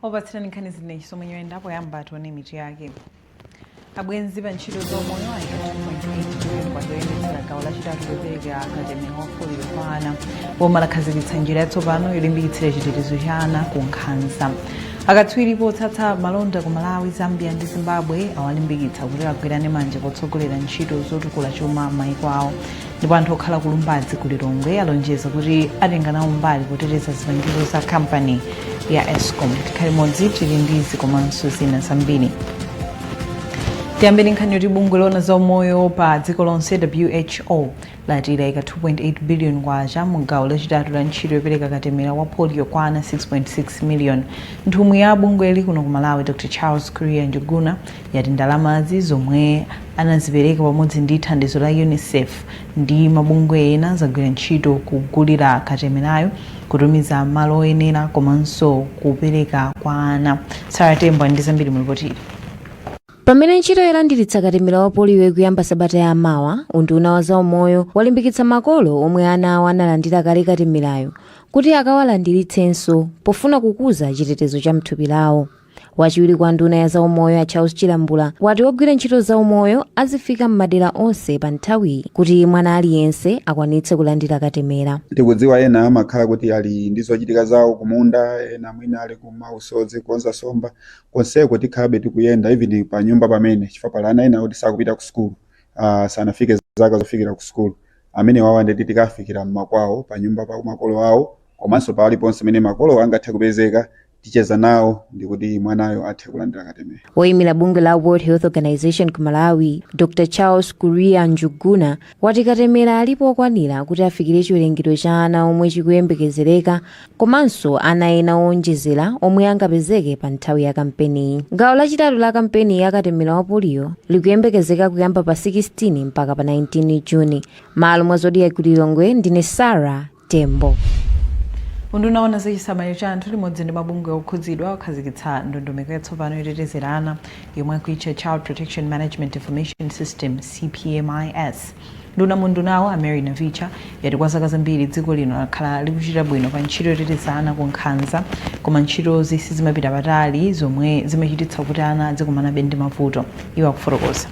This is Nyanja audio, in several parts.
opatsirani nkhani ndine Chisomo Nyirenda poyamba tione mitu yake abwenzi pa ntchito zaumoyo ayika zoyendetsera gawo lachitatu lopereka katemera wa poliyo kwa ana boma lakhazikitsa njira yatsopano yolimbikitsira chitetezo cha ana ku nkhanza akatswiri potsatsa malonda ku malawi zambia ndi zimbabwe awalimbikitsa kuti agwirane manja potsogolera ntchito zotukula chuma m'mayiko awo ndipo anthu okhala ku lumbadzi ku lilongwe alonjeza kuti atenga nawo mbali poteteza zipangizo za kampani ya escom tikhale limodzi tili ndi izi komanso zina zambiri tiyambeni nkhani yoti bungwe loona za umoyo pa dziko lonse who lati layika 2.8 billion kwacha mu gawo lachitatu la ntchito yopereka katemera wa polio kwa ana 6.6 million nthumwi ya bungweli kuno ku malawi dr charles kuria njuguna yati ndalamazi zomwe anazipereka pamodzi ndi thandizo la Unicef ndi mabungwe ena zagwira ntchito kugulira katemerayo, kutumiza malo oyenera komanso kupereka kwa ana. Sarah Tembo ndi zambiri mu lipoti ili. pamene ntchito yolandiritsa katemera wa poliyo ikuyamba sabata ya mawa unduna wa zaumoyo walimbikitsa makolo omwe ana awo analandira kale katemerayo kuti akawalandiritsenso pofuna kukuza chitetezo cha mthupi lawo wachiwiri kwa nduna ya zaumoyo a charles chilambula wati ogwira ntchito zaumoyo azifika m'madera onse pa nthawiyi kuti mwana aliyense akwanitse kulandira katemera tikudziwa ena amakhala kuti ali ndi zochitika zawo kumunda ena mwina ali ku mausodzi kukonza somba konseko tikhalabe tikuyenda even pa nyumba pamene chifukwa pali ana ena kuti sakupita ku sukulu uh, sanafike zaka zofikira ku sukulu amene awowo ndiye kuti tikafikira mmakwawo pa nyumba pa makolo awo komanso paliponse pamene makolo angathe kupezeka ticheza nawo ndikuti mwanayo athe kulandira katemera woyimira bungwe la world health organization ku malawi dr charles kuria njuguna wati katemera alipo okwanira kuti afikire chiwerengero cha ana omwe chikuyembekezereka komanso ana ena owonjezera omwe angapezeke pa nthawi ya kampeniyi gawo lachitatu la kampeni ya katemera wa poliyo likuyembekezeka kuyamba pa 16 mpaka pa 19 juni m'malo mwa zodiak ku lilongwe ndine sara Tembo. Unduna woona za chisamaliro cha anthu limodzi ndi mabungwe okhudzidwa wakhazikitsa ndondomeko yatsopano yotetezera ana yomwe akuitcha Child Protection Management Information System, CPMIS. Nduna mu undunawu a Mary Navicha yati kwa zaka zambiri dziko lino lakhala likuchita bwino pa ntchito yoteteza ana ku nkhanza koma ntchitozi sizimapita patali zomwe zimachititsa kuti ana azikumanabe ndi mavuto. Iwo akufotokoza.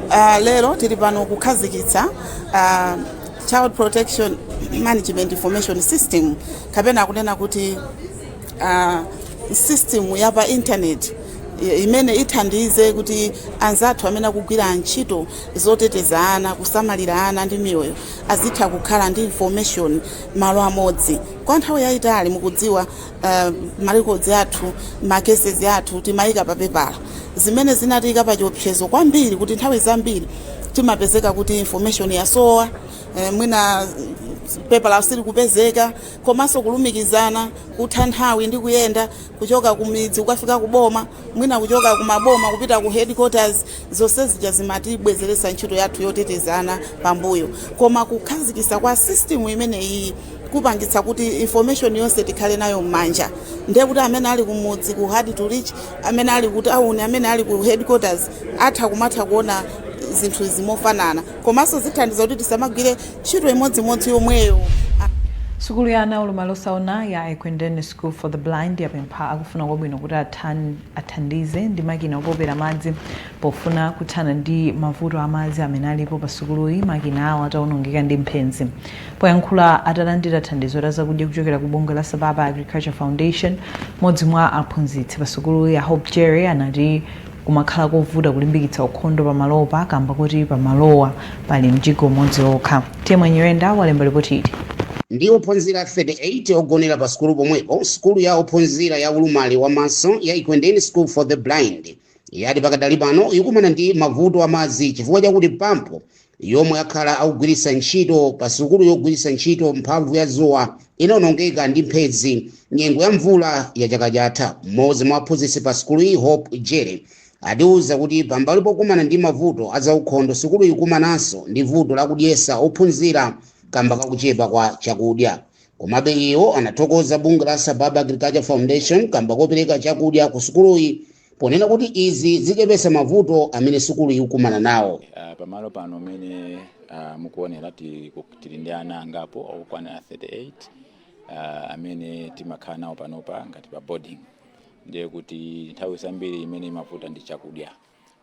Uh, lero tili pano kukhazikitsa uh, child protection management information system kapena kunena kuti uh, system ya pa internet i- imene ithandize kuti anzathu amene akugwira ntchito zoteteza ana kusamalira ana ndi miyoyo azitha kukhala ndi information malo amodzi kwa nthawi yayitali mukudziwa uh, marecords athu macases athu timayika pa pepala zimene zinatiyika pa chiopsezo kwambiri kuti nthawi zambiri timapezeka kuti information yasowa eh, mwina pepala sili kupezeka komanso kulumikizana kutha nthawi ndi kuyenda kuchoka kumidzi kukafika kuboma mwina kuchoka ku maboma kupita ku headquarters zonse zija zimatibwezeretsa ntchito yathu yotetezana pambuyo koma kukhazikisa kwa system imene iyi kupangitsa kuti information yonse tikhale nayo m'manja ndiye kuti amene ali kumudzi ku hard to reach amene ali ku town amene ali ku headquarters atha kumatha kuona zinthu zimofanana komanso zithandiza kuti tisamagwire ntchito imodzimodzi yomweyo sukulu ya ana aulumali osaona ya ekwendeni school for the blind yapempha akufuna kwabwino kuti athan- athandize ndi makina opopera madzi pofuna kuthana ndi mavuto a madzi amene alipo pa sukuluyi makina awo ataonongeka ndi mphenzi poyankhula atalandira thandizo la zakudya kuchokera ku bungwe la sababa agriculture foundation modzi mwa aphunzitsi pa sukuluyi a Hope Jere anati Kumakhala kovuta kulimbikitsa ukhondo pamalopa kamba kuti pamalowa pali mjigo umodzi okha. Temwa Nyirenda walemba lipoti ili. ndi ophunzira 38 ogonera pa sukulu pomwepo, sukulu ya ophunzira ya ulumali wa maso ya Ekwendeni School for the Blind yati pakadali pano ikukumana ndi mavuto a madzi chifukwa chakuti pampu yomwe akhala akugwiritsa ntchito pa sukuluyi yogwiritsa ntchito mphamvu ya dzuwa inaonongeka ndi mphenzi nyengo ya mvula ya chaka chatha mmodzi mwa aphunzitsi pa sukuluyi hope jere atiuza kuti pambali pokumana ndi mavuto azaukhondo sukuluyi ikumananso ndi vuto lakudyesa ophunzira kamba kakuchepa kwa chakudya komabe iwo anathokoza bungwe la sababa agriculture foundation kamba kopereka chakudya ku sukuluyi ponena kuti izi zichepesa mavuto amene sukulu ikukumana nawo Ah, pamalo pano mene ah, mukuonera ti- ku- tili ndi ana angapo okwana 38 ah, amene timakhala nawo panopa ngati pa boarding ndiye kuti nthawi zambiri imene imavuta ndi chakudya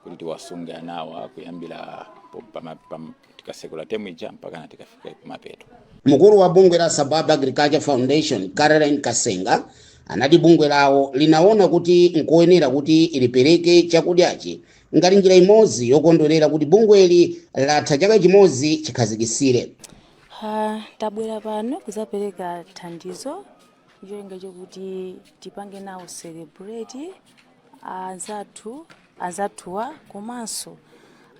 kuti tiwasunge anawa kuyambira po- pama- pam- tikasekula temu ija mpakana tikafika kumapeto Mkulu wa bungwe la Sababa Agriculture Foundation Caroline Kasenga anati bungwe lawo linaona kuti nkoyenera kuti lipereke chakudyachi ngati njira imodzi yokondwerera kuti bungweli latha chaka chimodzi chikhazikitsire Ha, tabwera pano kudzapereka thandizo cholinga chokuti tipange nawo celebrate anzathu anzathuwa komanso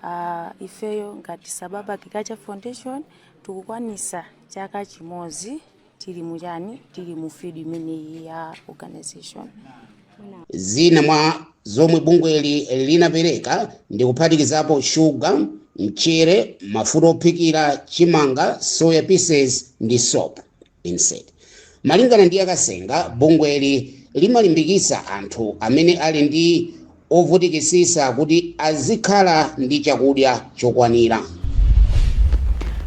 ah, ifeyo ngati sababa agriculture foundation tikukwanisa chaka chimodzi tili muchani tili mu field imeneyi ya organization zina mwa zomwe bungweli linapereka ndi kuphatikizapo shuga mchere mafuta ophikira chimanga soya pieces ndi soap Insert. Malingana ndi a Kasenga, bungweli limalimbikitsa anthu amene ali ndi ovutikitsitsa kuti azikhala ndi chakudya chokwanira.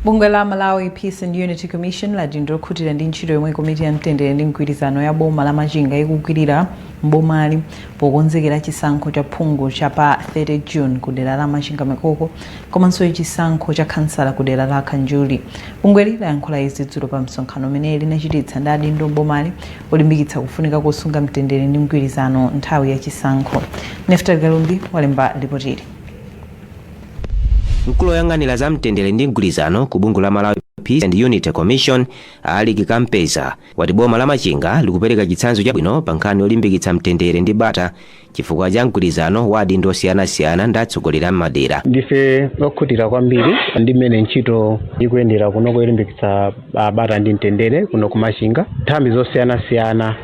Bungwe la Malawi Peace and Unity Commission lati ndilokhutira ndi ntchito yomwe komiti ya mtendere ndi mgwirizano ya boma la Machinga ikugwirira m'bomali pokonzekera chisankho cha phungu cha pa 30 June ku dera la Machinga Mikoko komanso chisankho cha khansala ku dera la Kanjuli. Bungweli layankhula izi dzulo pa msonkhano umene linachititsa ndi adindo m'bomali olimbikitsa kufunika kosunga mtendere ndi mgwirizano nthawi ya chisankho. Neftali Kalumbi walemba lipoti ili. Mkulu woyang'anira za mtendere ndi mgwirizano ku bungwe la Malawi Peace and Unity Commission a Alick Kampeza wati boma la Machinga likupereka chitsanzo chabwino pa nkhani yolimbikitsa mtendere ndi bata chifukwa cha mgwirizano wa adindo osiyanasiyana ndi atsogoleri a m'madera ndife okhutira kwambiri ndi mmene ntchito ikuyendera kuno yolimbikitsa ah, bata ndi mtendere kuno ku Machinga nthambi zosiyanasiyana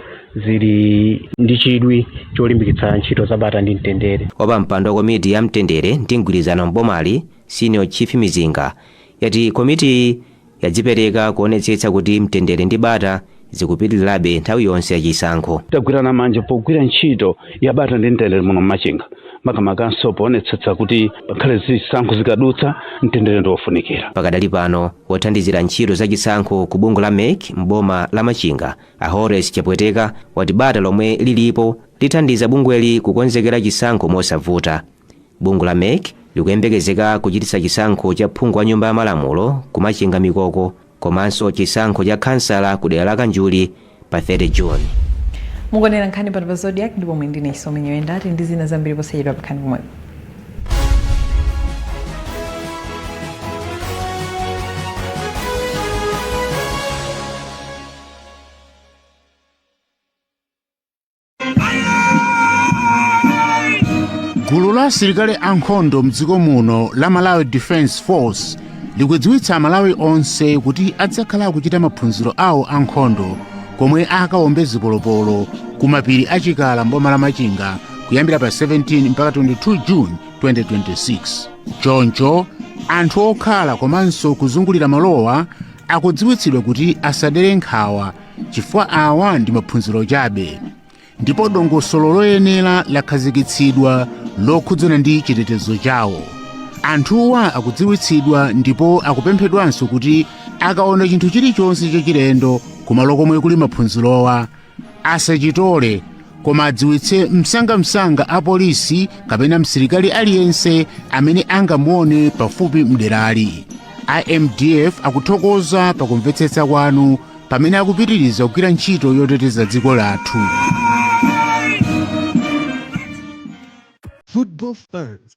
zili ndi chidwi cholimbikitsa ntchito za bata ndi mtendere wapampando wa komiti ya mtendere ndi mgwirizano m'bomali senior chief mizinga wati komitiyi yadzipereka kuonetsetsa kuti mtendere ndi bata zikupitirirabe nthawi yonse ya chisankho. Tagwirana manja pogwira ntchito ya bata ndi mtendere muno m'Machinga, makamakanso poonetsetsa kuti pakhale zisankho zikadutsa, mtendere ndi wofunikira. Pakadali pano, wothandizira ntchito za chisankho ku bungwe la mec m'boma la Machinga, a Horace Chapweteka, wati bata lomwe lilipo lithandiza bungweli kukonzekera chisankho mosavuta. Bungwe la mec likuyembekezeka kuchititsa chisankho cha phungu wa nyumba ya malamulo ku Machinga Mikoko komanso chisankho cha khansala ku dera la Kanjuli pa 30 June. mukuonera nkhani pano pa Zodiak ndipo ine ndine chisomo nyoyenda tili ndi zina zambiri posachedwa khalani pomwepo gulu la asilikali ankhondo mdziko muno la malawi defence force likudziwitsa amalawi onse kuti adzakhala akuchita maphunziro awo ankhondo komwe akawombe zipolopolo ku mapiri a chikala mboma la machinga kuyambira pa 17 mpaka 22 june 2026 choncho anthu okhala komanso kuzungulira malowa akudziwitsidwa kuti asadere nkhawa chifukwa awa ndi maphunziro chabe ndipo dongosolo loyenera lakhazikitsidwa lokhudzana ndi chitetezo chawo anthuwa akudziwitsidwa ndipo akupemphedwanso kuti akaona chinthu chilichonse chachilendo kumalo komwe kuli maphunzirowa asachitole koma adziwitse msangamsanga apolisi kapena msilikali aliyense amene angamuone pafupi mderali MDF akuthokoza pakumvetsetsa kwanu pamene akupitiriza kugwira ntchito yoteteza dziko lathu Football fans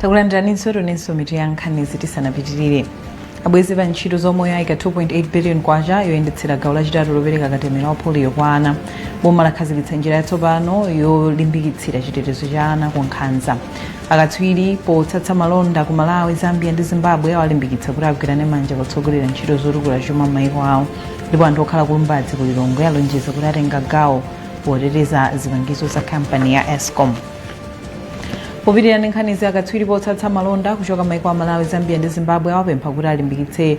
takulandiraninso tionenso mitu ya nkhanizi tisanapitirire abwenzi pa ntchito zaumoyo ayika 2.8 billion kwacha yoyendetsera gawo lachitatu lopereka katemera wa polio kwa ana boma lakhazikitsa njira yatsopano yolimbikitsira chitetezo cha ana ku nkhanza Akatswiri potsatsa malonda ku Malawi, Zambia ndi Zimbabwe awalimbikitsa kuti agwirane manja potsogolera ntchito zotukula chuma m'maiko awo ndipo anthu okhala ku Lumbadzi ku Lilongwe alonjeza kuti atenga gawo poteteza zipangizo za kampani ya Escom. Popitirira ndi nkhanizi, akatswiri potsatsa malonda kuchoka maiko a Malawi, Zambia ndi Zimbabwe awapempha kuti alimbikitse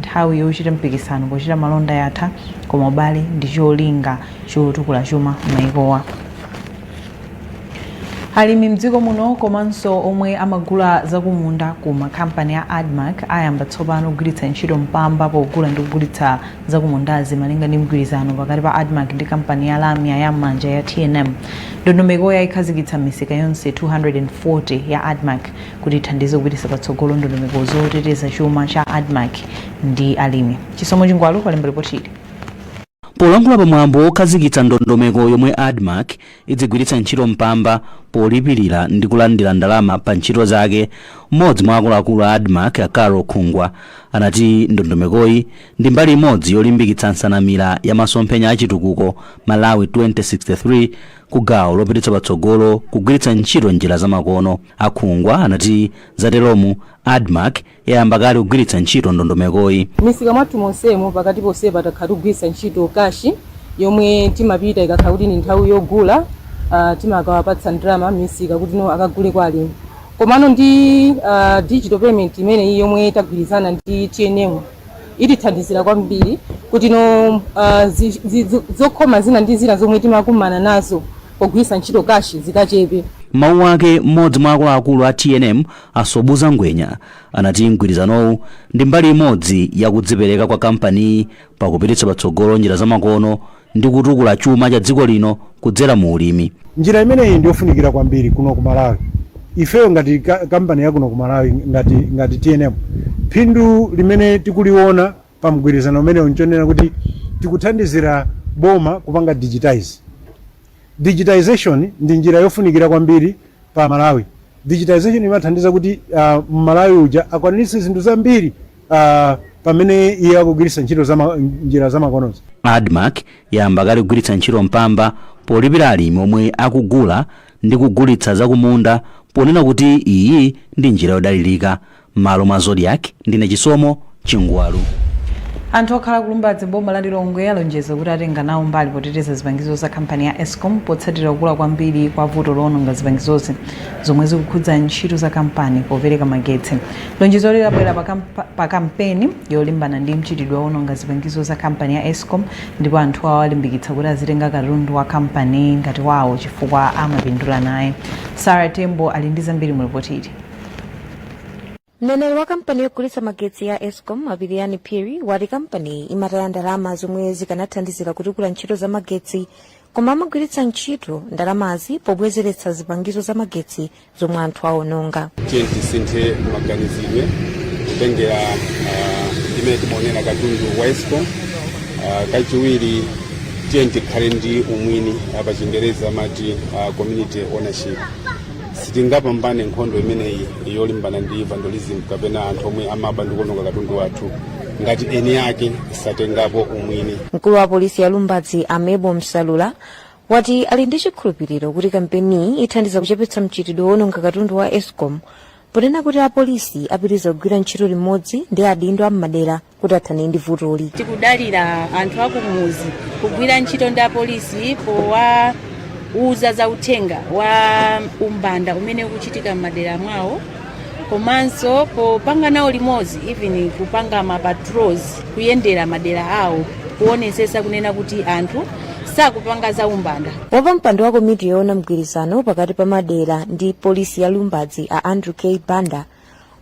Nthawi yochita mpikisano pochita malonda yatha koma ubale ndi cholinga chotukula chuma m'mayikowa. Alimi mdziko muno komanso omwe amagula zakumunda ku kampani ya Admarc ayamba tsopano kugwiritsa ntchito mpamba pogula ndi kugulitsa zakumundazi malinga ndi mgwirizano pakati pa Admarc ndi kampani ya lamya ya m'manja ya tnm. Ndondomekoyi ayikhazikitsa m'misika yonse 240 ya Admarc kuti ithandize kupititsa patsogolo ndondomeko zoteteza chuma cha admarc ndi alimi chisomo chingwalu walemba lipoti ili polankhula pa mwambo wokhazikitsa ndondomeko yomwe admarc idzigwiritsa ntchito mpamba polipirira ndi kulandira ndalama pa ntchito zake mmodzi mwa akuluakulu a admarc a carol khungwa anati ndondomekoyi ndi mbali imodzi yolimbikitsa nsanamira ya masomphenya a chitukuko malawi 2063 ku gawo lopititsa patsogolo kugwiritsa ntchito njira zamakono A Khungwa anati zateromu, Admarc yayamba kale kugwiritsa ntchito ndondomekoyi. M'misika mwathu monsemu pakati ponsepa takhala tikugwiritsa ntchito kashi yomwe timapita ikakhala kuti ndi nthawi yogula timakawapatsa ndalama m'misika kuti no akagule kwa alimi. Komano ndi digital payment imeneyi yomwe tagwirizana ndi tnm itithandizira kwambiri kuti no zokhoma zina ndi zina zomwe timakumana nazo, pogwiritsa ntchito cash zikachepe. M'mawu ake m'modzi mwa akuluakulu a tnm a Sobhuza Ngwenya anati mgwirizanowu ndi mbali imodzi ya kudzipereka kwa kampaniyi pakupititsa patsogolo njira zamakono ndi kutukula chuma cha dziko lino kudzera mu ulimi. Njira imeneyi ndi yofunikira kwambiri kuno ku Malawi. Ifeyo ngati ka- kampani ya kuno ku Malawi ngati, ngati tnm phindu limene tikuliona pa mgwirizano umenewu nchonena kuti tikuthandizira boma kupanga digitization. Digitization ndi njira yofunikira kwambiri pa Malawi. Digitization imathandiza kuti uh, Malawi uja akwanitse zinthu zambiri uh, pamene iye akugwiritsa ntchito zama, njira zamakonozi. admarc yayamba kale kugwiritsa ntchito mpamba polipira alimi omwe akugula ndi kugulitsa zakumunda ponena kuti iyi ndi njira yodalirika M'malo mwa Zodiak, ndine Chisomo Chingwalu. Anthu okhala ku Lumbadzi m'boma la Lilongwe alonjeza kuti atenga nawo mbali poteteza zipangizo za kampani ya Escom potsatira kukula kwambiri kwa vuto loononga zipangizozi zomwe zikukhudza ntchito za kampani popereka magetsi. Lonjezoli labwera pa kampeni yolimbana ndi mchitidwe woononga zipangizo za kampani ya Escom ndipo anthuwo alimbikitsa kuti azitenga katundu wa kampani ngati wawo chifukwa amapindula naye. Sara Tembo ali ndi zambiri mu lipoti ili. mneneri wa kampani yogulitsa magetsi ya escom a Pilirani Phiri wati kampaniyi imataya ndalama zomwe zikanathandizira kutukula ntchito za magetsi koma amagwiritsa ntchito ndalamazi pobwezeretsa zipangizo za magetsi zomwe anthu aononga tiyeni tisinthe maganizidwe kutengera ah, mmene timaonera katundu wa escom Ah, kachiwiri tiyeni tikhale ndi umwini pa chingereza amati ah, community ownership sitingapambane nkhondo imeneyi yolimbana ndi vandalism kapena anthu omwe amaba ndi kuononga katundu wathu ngati eni ake satengapo umwini mkulu wa polisi ya lumbadzi a Mable Msefula wati ali ndi chikhulupiriro kuti kampeniyi ithandiza kuchepetsa mchitidwe woononga katundu wa escom ponena kuti apolisi apitiriza kugwira ntchito limodzi ndi adindo a m'madera kuti athane ndi vutoli tikudalira anthu akumuzi kugwira ntchito ndi apolisi powawuza za uthenga wa umbanda umene ukuchitika m'madera mwawo komanso popanga nawo limodzi even kupanga ma patrols kuyendera madera awo kuonesesa kunena kuti anthu sakupanga za umbanda wapampando wa komiti yoona mgwirizano pakati pa madera ndi polisi ya lumbadzi a andrew k banda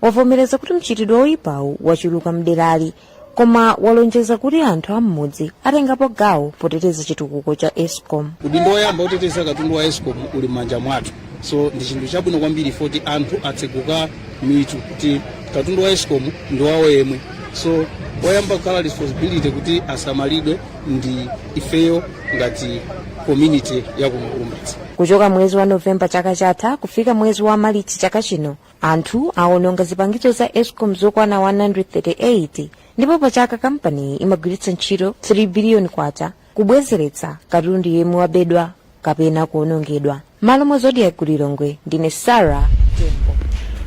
wavomereza kuti mchitidwe woyipawu wachuluka mderali koma walonjeza kuti anthu am'mudzi atengapo gawo poteteza chitukuko cha escom udindo woyamba oteteza katundu wa escom uli m'manja mwathu so ndi chinthu chabwino kwambiri poti anthu atseguka mitu kuti katundu wa escom ndi wawo yemwe so woyamba kukhala responsibility kuti asamalidwe ndi ifeyo ngati community ya kuno ku Lumbadzi kuchoka mwezi wa novemba chaka chatha kufika mwezi wa malichi chaka chino anthu awononga zipangizo za escom zokwana 138 ndipo pachaka kampaniyi imagwiritsa ntchito 3 biliyoni kwacha kubwezeretsa katundu yemwe wabedwa kapena kuwonongedwa m'malo mwa zodiak ku lilongwe ndine sarah tembo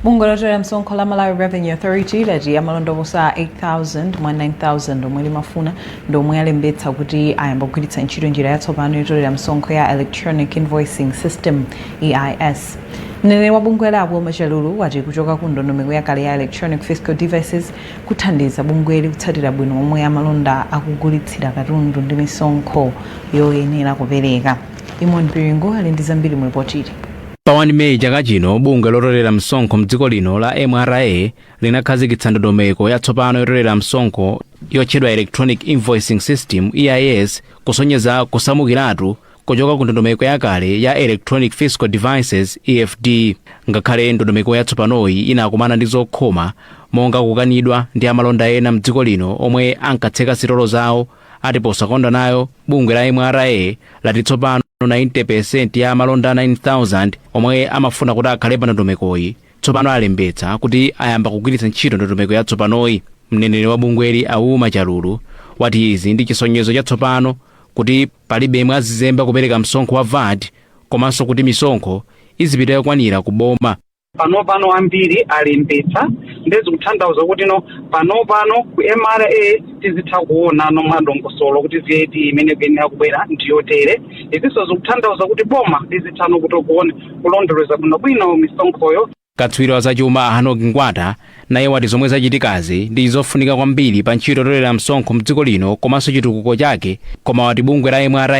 bungwe lotolera msonkho la malawi revenue authority lati amalonda oposa 8000 mwa 9000 omwe limafuna ndi omwe alembetsa kuti ayamba kugwiritsa ntchito njira yatsopano yotolera msonkho ya electronic invoicing system eis mneneri wa bungweli a wilma chalulu wati kuchoka ku ndondomeko yakale ya electronic fiscal devices kuthandiza bungweli kutsatira bwino momwe amalonda akugulitsira katundu ndi misonkho yoyenera kupereka eamon piringu ali ndi zambiri mu lipoti ili pa 1 meyi chaka chino bungwe lotolera msonkho mdziko lino la mra linakhazikitsa ndondomeko yatsopano yotolera msonkho yotchedwa electronic invoicing system eis kusonyeza kusamukiratu kuchoka ku ndondomeko yakale ya electronic fiscal devices efd ngakhale ndondomeko yatsopanoyi inakumana ndi zokhoma monga kukanidwa ndi amalonda ena mdziko lino omwe ankatseka sitolo zawo ati posakonda nayo bungwe la mra lati tsopano 90% ya amalonda 9000 omwe amafuna kuti akhale pa ndondomekoyi tsopano alembetsa kuti ayamba kugwiritsa ntchito ndondomeko yatsopanoyi mneneri wa bungweli a wilma chalulu wati izi ndi chisonyezo chatsopano kuti Palibe yemwe azizemba kupereka msonkho wa vat komanso kuti misonkho izipita yokwanira ku boma. panopano ambiri alembetsa nde zikuthandauza kuti no panopano ku mra tizitha kuonano mwadongosolo kuti vat imene ikuyenera kubwera ndiyotere izinso zikuthandauza kuti boma lizithano kuti kuona kulondoleza bwinobwino misonkhoyo Katswiri wa zachuma a Hannock Ngwata naye wati zomwe zachitikazi ndi zofunika kwambiri pa ntchito yotolera msonkho mdziko lino komanso chitukuko chake koma wati bungwe la mra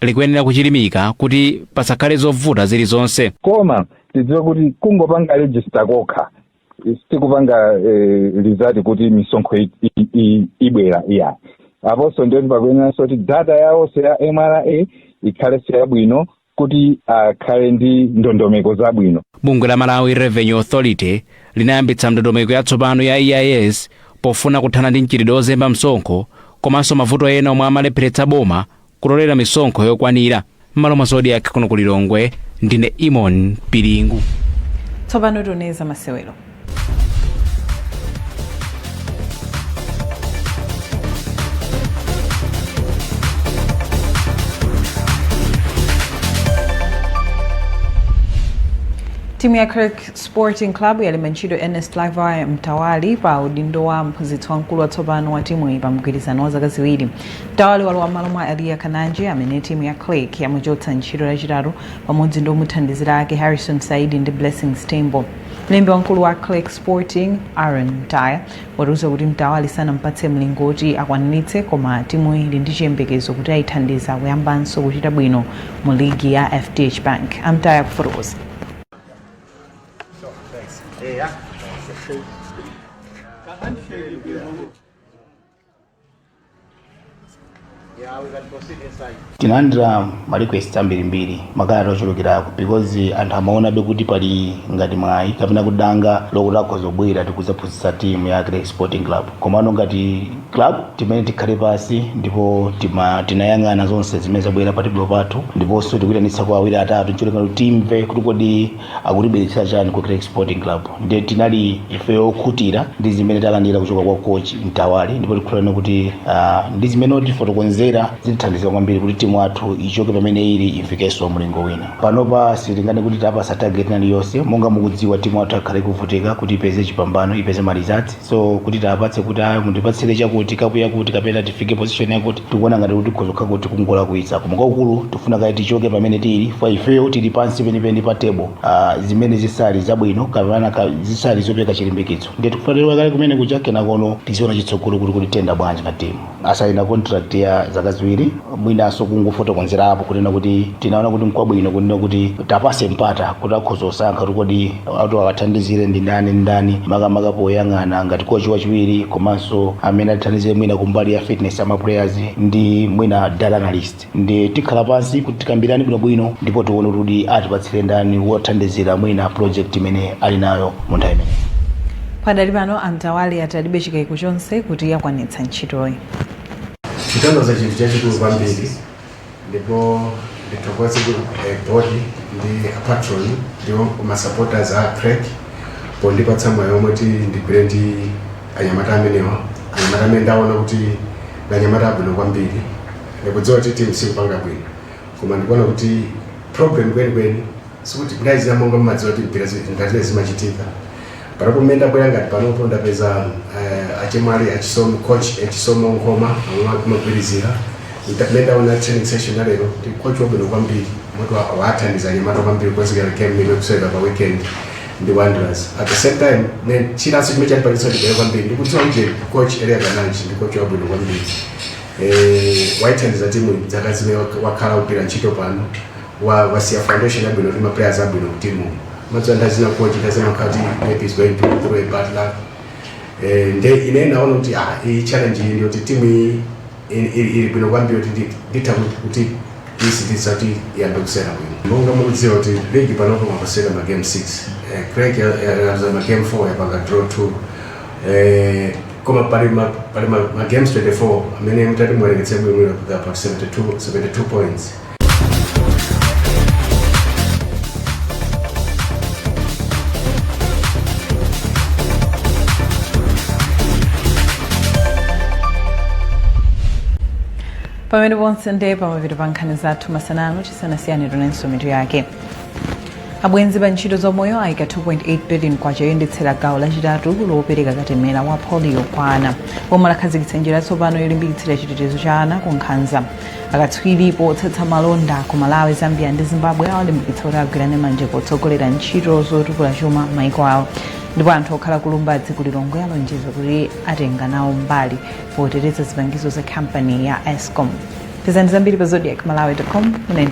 likuyenera kuchilimika kuti pasakhale zovuta zilizonse. koma tidziwe kuti kungopanga register kokha sikupanga eh, result kuti misonkho i- i- i- ibwera iyayi aponso ndiyoti pakuyeneranso kuti data yawonso ya mra ikhalenso yabwino kuti akhale ndi ndondomeko zabwino bungwe la malawi revenue authority linayambitsa ndondomeko yatsopano ya eis pofuna kuthana ndi mchitidwe ozemba msonkho komanso mavuto ena omwe amalepheretsa boma kutolera misonkho yokwanira m'malo mwa zodiak kuno ku lilongwe ndine eamon piringu tsopano tione za masewero timu ya creck sporting club yalemba ntchito ernest livi mtawali pa udindo wa mphunzitsi wamkulu watsopano wa timuyi pa mgwirizano wa zaka ziwiri mtawali walowa mmalo mwa eliya kananji amene timu ya creck yamuchotsa ntchito lachitatu pamodzi ndi omuthandizira ake harrison saidi ndi blessings tembo Mlembi wamkulu wa Creck Sporting, Aaron Mtaya, watiuza kuti Mtawali sanampatse mlingo woti akwaniritse koma timuyi ili ndi chiyembekezo kuti ayithandiza kuyambanso kuchita bwino mu ligi ya FDH Bank. A Mtaya akufotokoza. tinalandira ma request ambirimbiri makalata ochulukirako because anthu amaonabe kuti pali ngati mwayi kapena kuti danga lokuti akhoza kubwera kudzaphunzitsa timu ya Creck sporting club komano ngati club timayenera tikhale pansi ndipo tima- tinayang'ana zonse zimene zabwera pa tebulo pathu ndiponso tikuyitanitsa kwa awiri atatu ncholinga kuti timve kuti kodi akutibweretsera chani ku Creck Sporting Club ndiye tinali ifeyo okhutira ndi zimene talandira kuchoka kwa coach Mtawali ndipo tikhulupirira kuti ah, ndi zimene atifotokozera zitithandiza kwambiri kuti timu yathu ichoke pamene ili ifikenso mlingo wina panopa sitinganene kuti tawapatsa target ina iliyonse monga mukudziwa timu yathu yakhala ikuvutika kuti ipeze chipambano ipeze ma results so kuti tiwapatse kuti ayi mundipatsire chakuti kapu yakuti kapena tifike position yakuti tikuona ngati kuti tikhoza kukhala kuti kungolakwitsa koma kwakukulu tifuna kaye tichoke pamene tili kwa ifeyo tili pansi penipeni pa table ah, zimene zisali zabwino kapena ka- zisali zopereka chilimbikitso ndiye tikufuna tilowa kale kumene kuja kenakono tiziona chitsogolo kuti kodi tiyenda bwanji ngati timu asaina contract ya zaka ziwiri mwinanso kungofotokozerapo kunena kuti tinaona kuti nkwabwino kunena kuti tiwapatse mpata kuti akhoza kusankha kuti kodi ati awathandizire ndi ndani ndi ndani makamaka poyang'ana ngati kochi wachiwiri komanso amene athandizire mwina kumbali ya fitness ama players ndi mwina data analyst ndi tikhala pansi kuti tikambirane bwinobwino ndipo tione kuti atipatsire ndani wothandizira mwina project imene ali nayo mu nthawi imeneyi pakadali pano a Mtawali ati alibe chikaiko chonse choti ayikwanitsa ntchitoyi chikutanthauza chinthu chachikulu kwambiri ndipo ndithokoze ku eh, board ndi apatron ndi ma supporters a Creck pondipatsa mwayi umenewu woti ndigwire ndi anyamata amenewa anyamata amene ndaona kuti ndi anyamata abwino kwambiri Ndikudziwa kuti timu sikupanga bwino koma ndikuona kuti problem kwenikweni sikuti guys ya monga mmadziwa kuti mpira zi- ngatiwe zimachitika panopo mmene ndabwera ngati panopo ndapeza uh, achimwene a Chisomo coach a Chisomo Nkhoma amwe akumagwirizira mmene ndaona training session ya lero ndi coach wabwino kwambiri moti wa- wathandiza anyamata kwambiri kukonzekera game imene tikusewera pa weekend ndi Wanderers at the same time ne- chinanso chimene chandipangitsa ndibwere kwambiri ndikudziwa uje coach Elia Kananji ndi coach wabwino kwambiri Eh, waithandiza timu iyi dzaka zimene wak- wakhala kugwira ntchito pano wa- wasiya foundation yabwino ndi maplayers abwino kutimu mudziwa nthawi zina coach zimakhala kuti maybe is going through a bad luck Eh, nde ine naona kuti ah, iyi challenge iyi ndiyoti timu iyi ili- ili ili bwino kwambiri kuti ndi- nditha kuti- kuti isintha kuti iyambe kusewera bwino monga mukudziwa kuti ligi panopo mwasewera magame 6 yaluza magame 4 yapanga draw 2 eh, koma pali ma, pali ma, ma games 24 amene mtati muwerengetse bwinobwino kufika pa 72, 72 points pamene ponse nde pamapeto pa nkhani zathu masana ano tisanasiyane tionenso mitu yake abwenzi pa ntchito zaumoyo ayika 2.8 billion kwacha yoyendetsera gawo lachitatu lopereka katemera wa polio kwa ana boma lakhazikitsa njira yatsopano yolimbikitsira chitetezo cha ana ku nkhanza akatswiri potsatsa malonda ku malawi zambia ndi zimbabwe awalimbikitsa kuti agwirane manja potsogolera ntchito zotukula chuma m'maiko awo ndipo anthu okhala ku Lumbadzi ku Lilongwe alonjeza kuti atenga nawo mbali poteteza zipangizo za kampani ya escom pezani zambiri pa zodiak malawi com 19